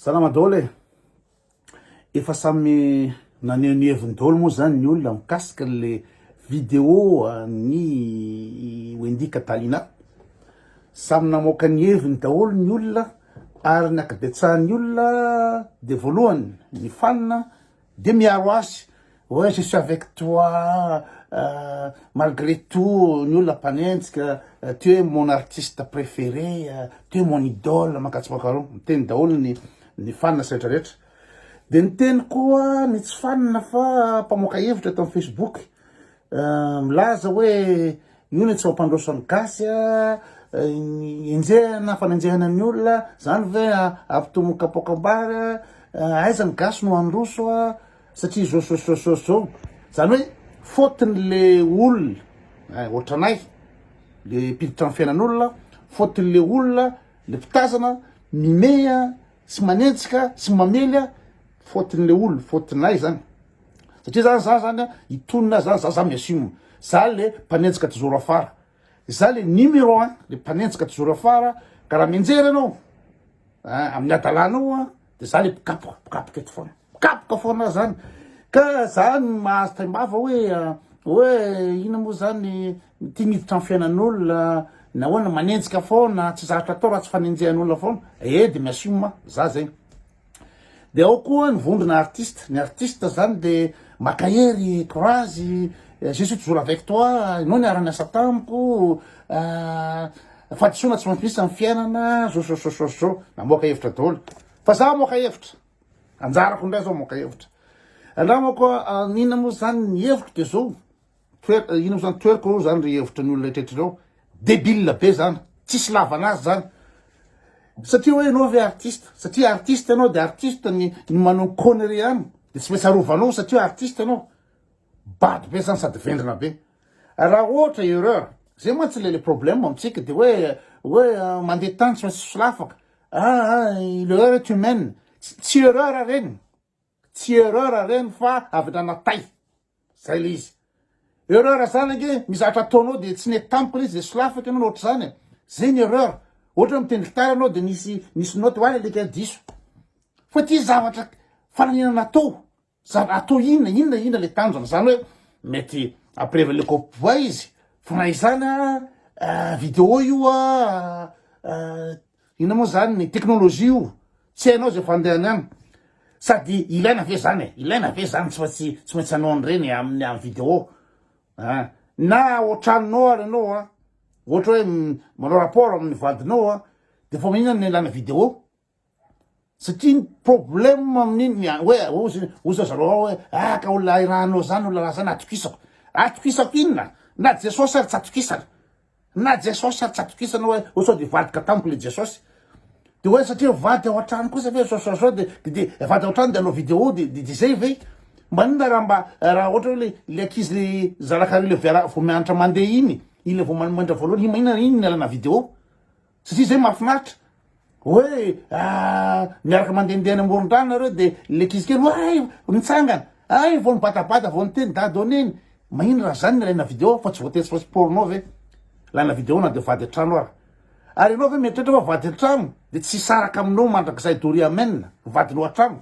Salama daholo e! Efa samy naneho ny heviny daholo moa zany ny olona mikasika le video an'i Wendy Catalina. Samy namoaka ny heviny daholo ny olona ary ny ankabetsahan'ny olona dia voalohany ny fanina Dia miaro azy hoe je suis avec toi malgré tout ny olona mpanenjika, tu es mon artiste préféré, tu es mon idole, mankatso mankareo, miteny daholo ny ny fanina sy rehetra rehetra. Dia niteny koa ny tsy fanina fa mpamoaka hevitra eto amin'ny Facebook, Milaza hoe io no tsy mampandroso ny gasy a, enjehana, fanenjehana ny olona, zany ve ampitohy amin'ny kapoakam-bary a, aiza ny gasy no handroso a, satria zao zao zao zao zao, zany hoe faute-ny le olona, eh ohatranay le mpiditra amin'ny fiainan'olona, faute-ny le olona, le mpitazana, mimehy a, sy manenjika, sy mamely a, faute-ny le olona, faute-nay zany. satria zany za zany a itonona za za za miasimo za le mpanenjika tizoro afara za le numéro un le mpanenjika tizoro afara ka raha mianjera ianao a amin'ny adalanao a de za le mpikapoka mpikapoka eto foana mpikapoka foana zany ka za no mahazo taimbava hoe hoe ina moa zany ty miditra ny fiainan'olona nahoana manenjika foana tsy zatra atao raha tsy fanenjehan'olona foana e de miasimo ma za zegny Dia ao koa ny vondrona artiste, ny artiste zany de maka hery courage, je suis toujours avec toi, enao niara niasa tamiko, fahadisoana tsy maintsy misy am fiainana, zosososososô, namoaka hevitra daholo, fa za amoaka hevitra, anjarako ndray zao amoaka hevitra, angamba koa inona moa zany ny heviko de zao, Twer ino mo zany twerk oa zany ry hevitra ny olona etretra ireo debile be zany tsisy ilavana azy zany satria oe enao ve artiste satria artiste enao de artiste ny ny manao ny connerie ihany de tsy maintsy arovanao satria artiste enao bado be zany sady vendrana be raha ohatra erreur zay mantsy le le problème amintsika de oe oe mandeha tany tsy maintsy solafaka aa le erreur est humaine tsy tsy erreur reny Tsy erreur ireny fa avy nana tay. Zay le izy. Erreur zany ange misy zavatra ataonao de tsy nety tamiko le izy de solafako ianao na ohatr'izany e. Zay ny erreur. Ohatra hoe mitendry gitara ianao de nisy nisy note oa alika diso. Fa ty zavatra fananina natao. Zava- atao inona inona inona le tanjona. Zany hoe mety ampirevo le kôpy bois izy fa na izany a video io a Inona moa zany ny teknolojia io? Tsy hainao zay fandehany any. Sady ilaina ve zany e? Ilaina ve zany tsy maintsy tsy maintsy anao an'ireny e, amin'ny amin'ny vidéo. Ah, na ao an-tranonao ary ianao a, ohatra hoe manao rapport amin'ny vadinao a, de fa maninona no ilana vidéo? Satria ny problème amin'iny ny hoe ozy ozy zareo ao hoe ah ka olona ahiranao zany olona raha zany atokisako atokisako inona na jesosy ary tsy atokisana na jesosy ary tsy atokisana hoe ho sao dia hivadika tamiko le jesosy de hoe satria vady ao an-trano kosa ve sao sao sao de de de vady ao an-trano de hanao vidéo de de de zay ve maninona raha mba raha ohatra hoe le le ankizy le zanakareo le viara vao mianatra mandeha iny iny le vao manomendra voalohany iny maninona iny ny alana vidéo satria zay mahafinaritra hoe miaraka mandehandeha any amoron-drano nareo de le kizy kely oay mitsangana ay vao mibatabata vao niteny dado neny mahino raha zany ny alaina video fa tsy voatery fa sporno ve laina video na de vady an-trano ara ary ianao ve mieritreritra fa vady an-trano de tsy hisaraka aminao mandrakizay doria amen vadinao an-trano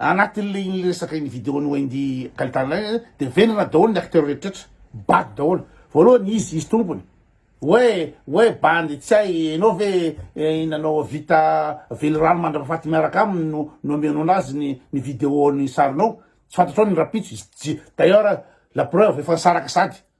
Anatin'le iny resaka iny video an'i Wendy Kalitana iny de vendrana daholo ny acteurs rehetrretra, bado daholo. Voalohany izy, izy tompony, hoe hoe bandy tsy hay enao ve nanao vita velirano mandrapafaty miaraka aminy no no amianao anazy ny ny video ny sarinao, tsy fantatrao ny rahampitso izy, d'ailleurs la preuve efa nisaraka sady.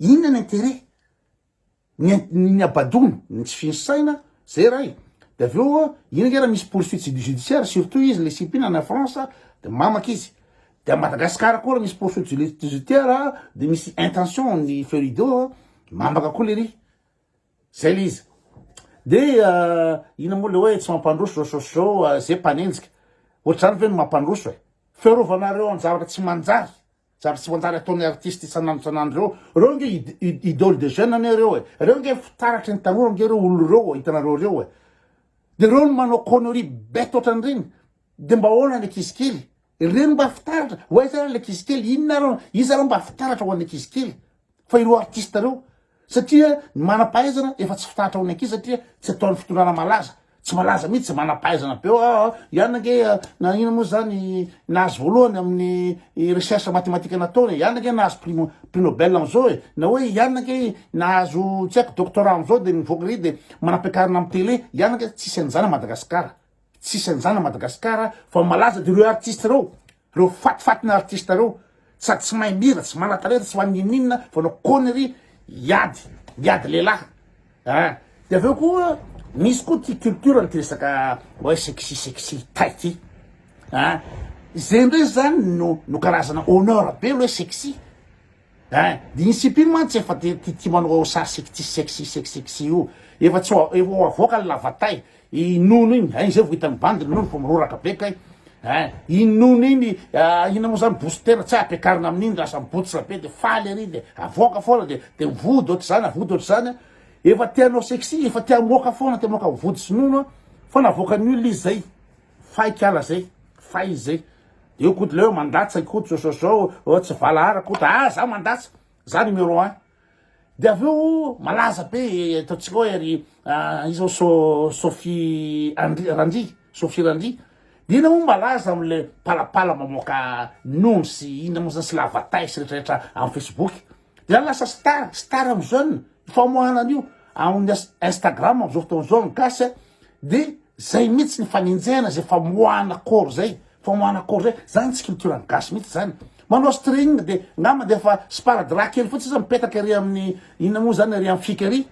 Inona ny interet ny ny abadoana ny tsy fy ny saina zay ray de avy eo ino nge ra misy poursuite judiciaire surtout izy le cpi na any France de mamaka izy de a Madagascar koa ra misy poursuite judiciaire de misy intention ny feu rideau mamaka koa lery zay le izy de ina moa le oe tsy mampandroso zao zao sy zao ze mpanenjika ohatr'izany ve no mampandroso e fiarovanareo any zavatra tsy manjary Zary tsy manjary ataon'ny artiste isan'andro isan'andro reo. Reo ange id idole des jeunes anie reo e. Reo ange fitaratry ny tanora ange reo olo reo hitanareo reo e. De reo no manao connerie bête otran'ireny. De mba ahoana ny ankizy kely? Ireny mba fitaratra? Ho aiza ary ny ankizy kely? Inona ary iza ary mba fitaratra ho an'ny ankizy kely? fa ireo artiste ireo satria ny manampahaizana efa tsy fitahatra ho ny ankizy satria tsy ataon'ny fitondrana malaza tsy malaza mihitsy tsy manampahaizana be eo aa ihany ange na ina moa zany nahazo voalohany amin'ny recherche mathématique nataony ihany ange nahazo prix mo- prix nobel am'zao e na hoe ihany ange nahazo tsy haiko doctorat am'zao de mivoaka ry de manam-piakarana amin'ny télé ihany ange tsisy an'izany à madagasikara tsisy an'izany à madagasikara fa malaza de ireo artiste ireo Reo fatifatina artiste reo sady tsy mahay mihira tsy manatalenta tsy mahay ninoninona fa anao connerie hiady miady lehilahy ah de aveo koa misy koa ty culture ny ty resaka hoe sexy sexy tay ty ah izay ndray zany no no karazana honneur be le hoe sexy Eeh dia iny sipa iny mantsy efa dia tia tia manao sary sexy sexy sexy sexy io efa tsy ho efa ho avoaka ny lavatay i nono iny eeh izay vao hitan'ny bandy ny nono fa miroraka be kay eeh iny nono iny ah inona moa izany booster tsy ampiakarina amin'iny raha samy botsra be dia faly ery dia avoaka foana dia dia vody ohatr'izany vody ohatr'izany an efa te hanao sexy efa te hamoaka foana te hamoaka vody sy nono an fa navoakan'ny olona izy izay Fay kala zay, fay zay. Eo koto leo mandatsa koto sososoo oh, tsy valahara koto ah za mandatsa za numéro un de avy eo malaza be ataontsika hoe ry ah, izao so Sophie Andri Randri Sophie Randri de ina moa malaza amle palapala mamoaka nony sy ina moa zany sy lavatay sy retraretra amin'ny Facebook Dia lasa star, star amin'ny jeune, io famoahana an'io amin'ny Instagram amin'izao fotoana izao ny gasy a, dia zay mihitsy ny fanenjehana zay famoahana corps zay, famoahana corps zay, zany tsy culture ny gasy mihitsy zany. Manao string dia angamba dia efa sparadrap kely fotsiny sisa mipetaka ery amin'ny inona moa zany ery amin'ny fika ery,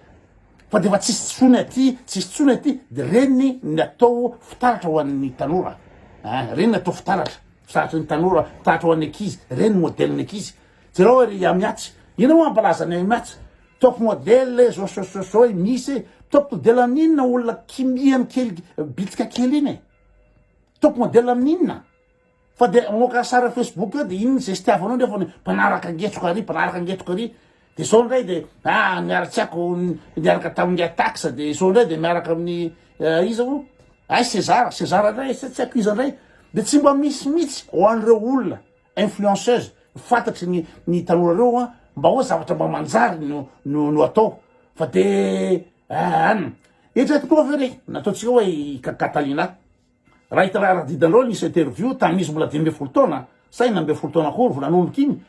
fa dia efa tsisy tsony aty, tsisy tsony aty, dia reny ny atao fitaratra ho an'ny tanora, ein, reny ny atao fitaratra, fitaratry ny tanora, fitaratra ho an'ny ankizy, reny ny modèle ny ankizy, Jereo ery i Amiatsy. Inona moa hampalaza an'i Amiatsy? Top model e, zao so so so e, misy e. Top model amin'inona olona kimiany kely bitsika kely iny e? Top model amin'inona? Fa dia mamoaka sary Facebook eo dia iny ny zestiavanao nefa ny mpanaraka angetsoka ary mpanaraka angetoka ary dia zao indray dia ah niaratsiako niaraka tamin'ny atax dia zao indray dia miaraka amin'ny eh, iza moa? Ay César, César indray, tsy haiko iza indray. Dia tsy mba misy mihitsy ho an'ireo olona influenceuse fantatry ny ny tanora reo a mba oa zavatra mba manjary no no no atao fa de an eritrereto koa ve le nataontsika hoe i Ka- Catalina raha hita raha didanreo nisy interview tamin'ny izy mbola dimy ambin'ny folo taona sa enina ambin'ny folo taona akory vao nanomboka iny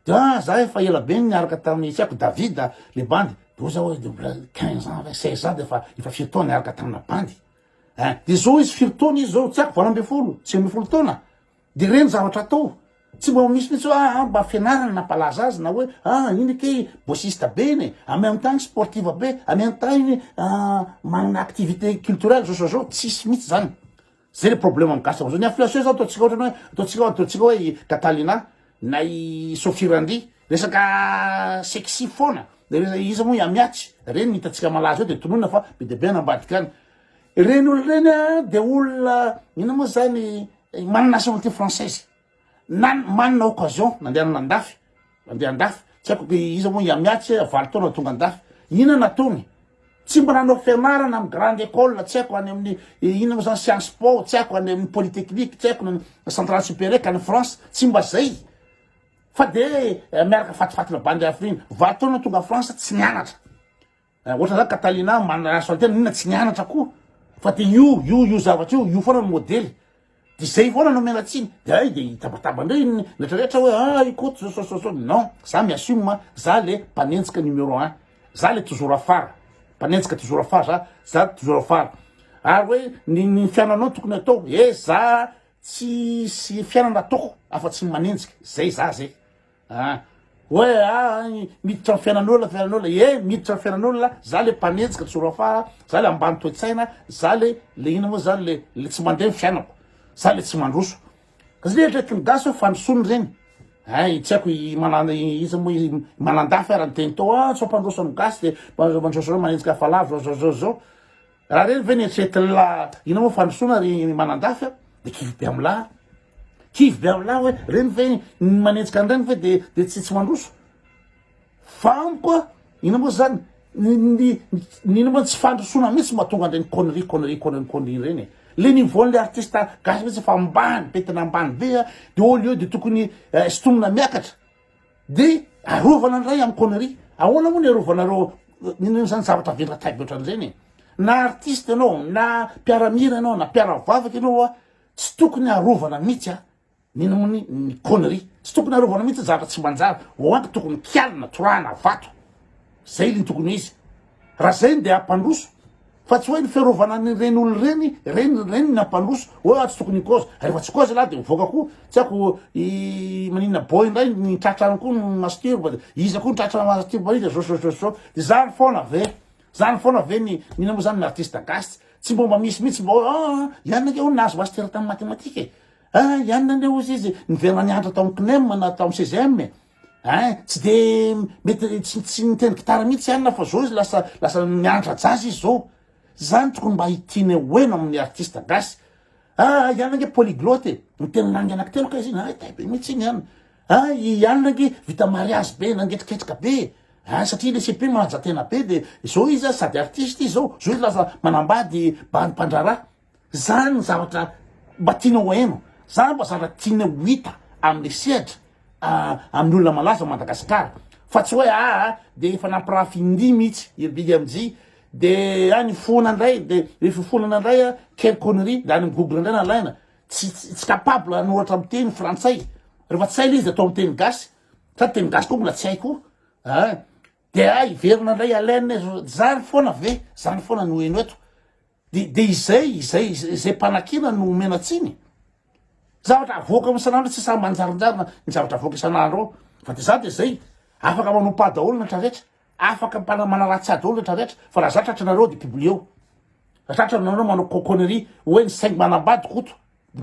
de ah za efa ela be no niaraka tamin'ny tsy haiko Davida le bandy de oza hoe de mbola quinze ans ve seize ans de efa efa firy taona niaraka tamina bandy eh de zao izy firy taona izy zao tsy haiko valo ambin'ny folo sivy ambin'ny folo taona Dia ireny zavatra atao, tsy mba misy mihitsy hoe ah, mba fianarana nampalaza azy na hoe ah, iny ake bossiste be iny e, en même temps sportive be, en même temps iny ah, manana activité culturelle zao zao zao, tsisy mihitsy zany. Zay le problème amin'ny gasy am'zao. Ny influenceur zao ataontsika ohatrany hoe ataontsika ataontsika hoe i Catalina na i Sophie Randri, resaka sexy foana, iza moa i Amiatsy, reny no hitantsika malaza eo dia tononina fa be dia be any ambadika any. Ireny olona ireny a dia olona inona moa zany manana nationalité française na manana occasion nandehanana an-dafy nandeha an-dafy tsy haiko hoe iza moa ihamiatsy valo taona tonga an-dafy inona nataony tsy mba nanao fianarana amin'ny grande école tsy haiko any amin'ny inona moa zany science po tsy haiko any amin'ny polytechnique tsy haiko centrale supérieure ka any France tsy mba zay fa de miaraka fatifatina bandy afriny valo taona tonga France tsy nianatra Eh ohatran zany Catalina manaraso an tena inona tsy nianatra koa fa de io io io zavatra io io foana no modely de zay foana no omena tsiny de hay de hitabataba indray iny rehetra rehetra hoe ah i Koto zao zao zao non za mi assume a za le mpanenjika numero un za le toujours afara mpanenjika toujours afara za za toujours afara ary hoe ny ny fiananao tokony atao eh za tsisy fiainana ataoko afa tsy ny manenjika zay za zay An! Hoe an! miditra ny fiainan'olona, fiainan'olona, ie miditra ny fiainan'olona, za le mpanenjika tsy horafara, za le ambany toe-tsaina, za le le inona moa zany le le tsy mandeha ny fiainako, za le tsy mandroso. Ka zany eritreretin'ny gasy hoe fandrosoana ireny. Ay, tsy haiko i Manan i iza moa i Manandafy ara niteny tao an, tsy mampandroso ny gasy de mandroso manenjika hafalavitra zao zao zao. Raha reny ve ny hetsetin'ny la ina moa fandrosoana ry manandafy a de kivy be amin'ny lahy kivy be amin'ny lahy hoe reny ve ny manenjika an'ireny ve de de tsy tsy mandroso fa amiko a ina moa zany ny ny ny ina moa tsy fandrosoana mihitsy mba tonga an'ireny connerie connerie connerie connerie ireny e le niveau-n'ny artiste gasy mihitsy efa ambany be tena ambany be a de au lieu de tokony eh, sintomina miakatra De arovana ny ray am connerie. Ahoana moa ny arovanareo inona izany zavatra velantaibe ohatran'izany e? Na artiste ianao, na mpiaramira ianao, na mpiaravavaka ianao a, tsy tokony arovana mihitsy a inona moa ny ny connerie. Tsy tokony arovana mihitsy ny zavatra tsy manjary. Ho ato tokony kialina, torahana vato. Zay le tokony ho izy. Raha zay dia hampandroso fa tsy hoe ny fiarovana ny reny olo reny reny reny ny hampandroso hoe atsy tokony ny kozy rehefa tsy kozy lahy dia mivoaka koa tsy ako i manina boy indray ny tratra any koa ny mastirba dia iza koa ny tratra mastirba iza zao zao zao zao dia zany foana ve zany foana ve ny mila moa zany ny artiste gasy tsy mba mba misy mihitsy mba hoe ah ianona ange hono nahazo mastir tamin'ny matematika e ah ianona ange hozy izy niverina nianatra tao amin'ny CNEM na tao amin'ny CGM e Ein, tsy de mety tsy tsy niteny gitara mihitsy i Anna fa zao izy lasa lasa miantra jazz izy zao. Zany tokony mba hitiana ho heno amin'ny artiste gasy. Ah, i Anna nge polyglotte e, miteny langue anankitelo kay izy iny, hay tay be mihitsy iny an. Ah, i Anna nge vita mariazy be, nangetriketrika be e. Ein, satria ilay CP manaja tena be de zao izy an sady artiste izy zao, zao izy lasa manambady bandy mpandraharaha. Zany ny zavatra mba tianao ho hainao, zany mba zavatra tianao ho hita amle sehatra amin'ny olona malaza ao Madagasikara fa tsy hoe aa de efa nampirafy indimy mitsy i BMJ de any foana ndray de refa foana ndray a quelle connerie de any amin'ny google ndray nalaina tsy tsy capable hanoratra amin'ny teny frantsay refa tsy hay le izy de atao amin'ny teny gasy sady teny gasy koa mbola tsy hay koa a. De ah hiverina indray Alain zany foana ve zany foana no heno eto de de izay izay izay mpanakiana no omena tsiny zavatra avoaka ao isan'andro tsy samy manjarinjarina ny zavatra avoaka isan'andro ao fa de za de zay afaka manompa daholo ny traretra afaka mpana manaratsy ahy daholo ny traretra fa raha za tratrareo de publieo raha tratrareo manao connerie hoe ny saingy manambady koto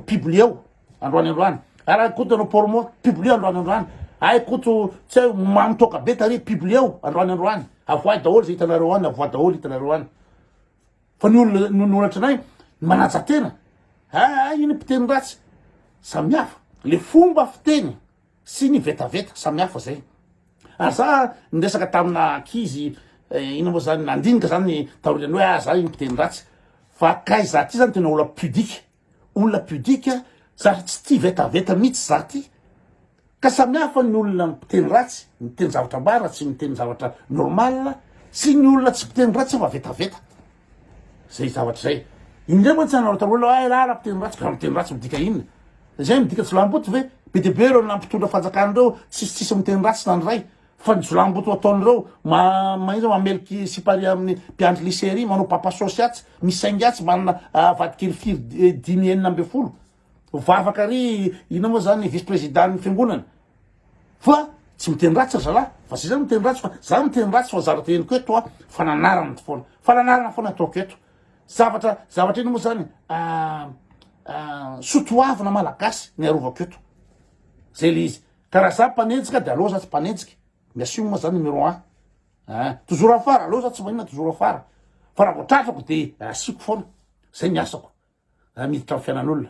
publieo androany androany ary ay koto no pormo publieo androany androany ay koto tsy ay mamy toaka be tary publieo androany androany avoay daholo zay hitanareo any avoay daholo hitanareo any fa ny olona no noratra anay manaja tena ay iny mpiteny ratsy samihafa le fomba fiteny sy ny vetaveta samihafa izay ary za niresaka tamina ankizy eh, ina moa zany nandinika zany taorian'ny hoe ah za iny mpiteny ratsy fa kay za ty zany tena olona pudique olona pudique za tsy tia vetaveta mihitsy za ty ka samihafa ny olona mpiteny ratsy miteny zavatra mbara tsy miteny zavatra normal sy ny olona tsy mpiteny ratsy fa vetaveta zay zavatra zay indreo mantsy anareo taloha la ay la la miteny ratsy ka miteny ratsy midika inona zay midika jolamboto ve be de be ireo nampitondra fanjakana ireo tsisy tsisy miteny ratsy na ny ray fa ny jolamboto ataon'ireo ma mahiza mameloky sipari amin'ny mpiandry lycée ry manao papa sosy atsy misaingy atsy manana ah, vadikely firy eh, dimy enina amby folo Ho vavaka ry inona moa zany vice président ny fiangonana. Fa tsy miteny ratsy ry zalahy fa zay zany miteny ratsy fa za miteny ratsy fa zavatra henoko eto a fananarana to foana fananarana foana ataoko eto zavatra zavatra inona moa zany sotoavina malagasy ny arovako eto zay le izy ka raha za mpanenjika de aleo za tsy mpanenjika Merci moa zany numéro un ah toujours afara aleo za tsy maninona toujours afara fa raha vao tratrako de asiako foana zay ny asako miditra amin'ny fiainan'olona